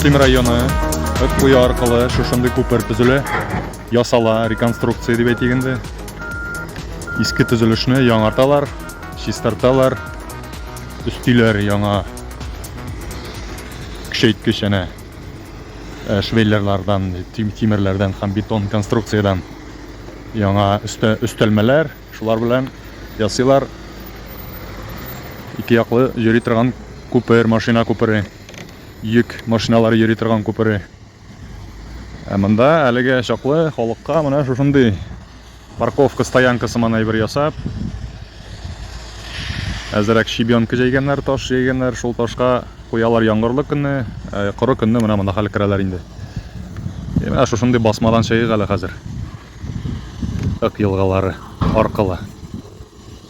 Мөслим районы Ыткуя аркылы шушындый күпер төзелә. ясала, реконструкция дип әйтик инде. Иске төзелешне яңарталар, чистарталар, өстиләр яңа көчәйткеч әнә э, швеллерлардан, тимерләрдән һәм бетон конструкциядән яңа өстә, өстәлмәләр, шулар белән ясыйлар. Ике яклы йөри торган күпер, машина күпере, йөк машиналары йөри торган күпере. Ә монда әлегә чаклы халыкка менә шушындый парковка стоянка сыман әйбер ясап, әзерәк щебенка җәйгәннәр, таш җәйгәннәр, шул ташка куялар яңгырлы көнне, ә коры көнне менә монда хәл керәләр инде. Е, менә шушындый басмадан чыгыйк әле хәзер. Ак елгалары аркылы.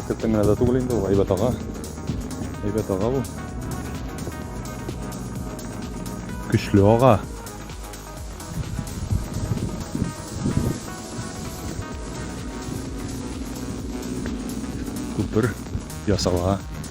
Әкрәттән генә дә түгел инде ул, әйбәт ага. Әйбәт ага бу. Көчле ага. Күпер ясала.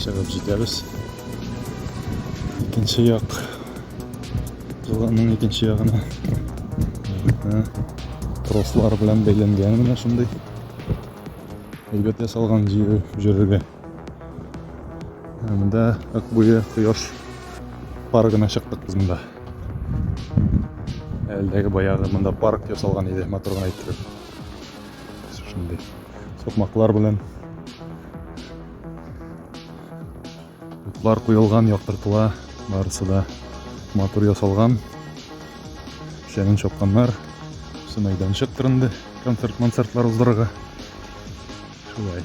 чыгып җитәбез икенче як елганың икенче ягына трослар белән бәйләнгән менә шундый әйбәт ясалган җөрергә анда акбуе кояш паргына чыктык без монда әлдәге баягы монда парк ясалган иде матур гына иттереп Шундый сукмаклар белән утлар куелган, яктыртыла, барысы да матур ясалган. Шәнен чапканнар. Все мәйданчык кырынды, концерт-концертлар уздырырга. Шулай.